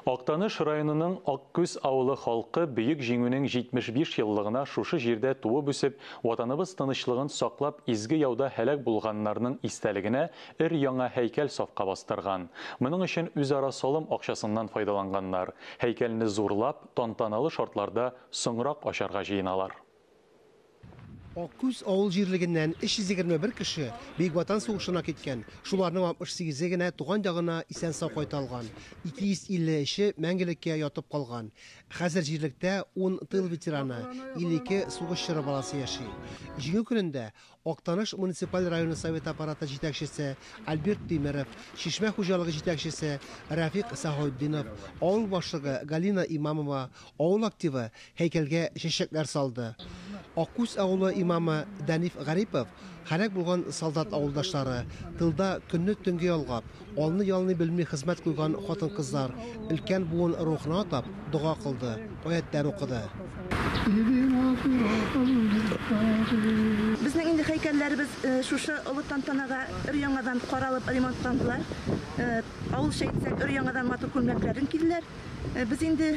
Актаныш районының Аккүз авылы халкы Бөек Җиңүнең 75 еллыгына шушы җирдә туып-үсеп, Ватаныбыз тынычлыгын саклап изге яуда һәлак булганнарның истәлегенә өр-яңа һәйкәл сафка бастырган. Моның өчен үзара салым акчасыннан файдаланганнар. Һәйкәлне зурлап, тантаналы шартларда соңрак ачарга җыеналар. Аккүз авыл җирлегеннән 321 кеше Бөек Ватан сугышына киткән, шуларның 68-е генә туган ягына исән-сау кайта алган, 253-е мәңгелеккә ятып калган. Хәзер җирлектә ун тыл ветераны, 52 сугыш чоры баласы яши. Җиңү көнендә Актаныш муниципаль районы Советы Аппараты җитәкчесе Альберт Тимеров, Чишмә хуҗалыгы җитәкчесе Рәфикъ Сәхаутдинов, авыл башлыгы Галина Имамова, авыл активы һәйкәлгә чәчәкләр салды. Аккүз авылы имамы Дәниф Гарипов, һәлак булган солдат авылдашлары, тылда көнне-төнге ялгап, Алны-ялны белми хезмәт куйган хатын-кызлар, өлкән буын рухына атап, дога кылды, аятьләр укыды. Безнең инде һәйкәлләребез шушы олы тантанага өр-яңадан каралып ремонтландылар. Авылча әйтсәк, өр-яңадан матур күлмәкләрен киделәр. Без инде.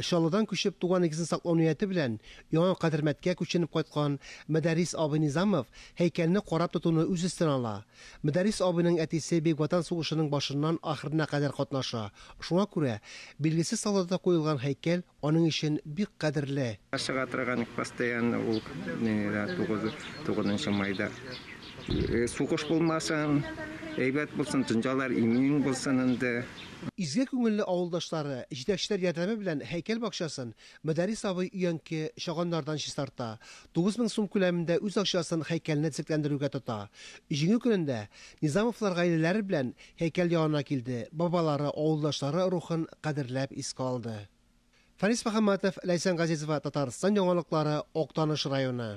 Чаллыдан күчеп, туган нигезен саклау нияте белән Яңа Кадермәткә күченеп кайткан Мөдәррис абый Низамов һәйкәлне карап тотуны үз өстенә ала. Мөдәррис абыйның әтисе Бөек Ватан сугышының башыннан ахырына кадәр катнаша, шуңа күрә билгесез солдата куелган һәйкәл аның өчен бик кадерле. Ашыга торган, постоянно ул тугызынчы майда сугыш булмасын, әйбәт булсын, дөньялар имин булсын инде. Изге күңелле авылдашлары, җитәкчеләр ярдәме белән һәйкәл бакчасын Мөдәррис абый өянке чаганнардан чистарта, 9 мең сум күләмендә үз акчасын һәйкәлне төзекләндерүгә тота. Җиңү көнендә Низамовлар гаиләләре белән һәйкәл янына килде, бабалары, авылдашлары рухын кадерләп искә алды. Фәнис Мөхәммәтов, Ләйсән Газизова, Татарстан яңалыклары, Актаныш районы.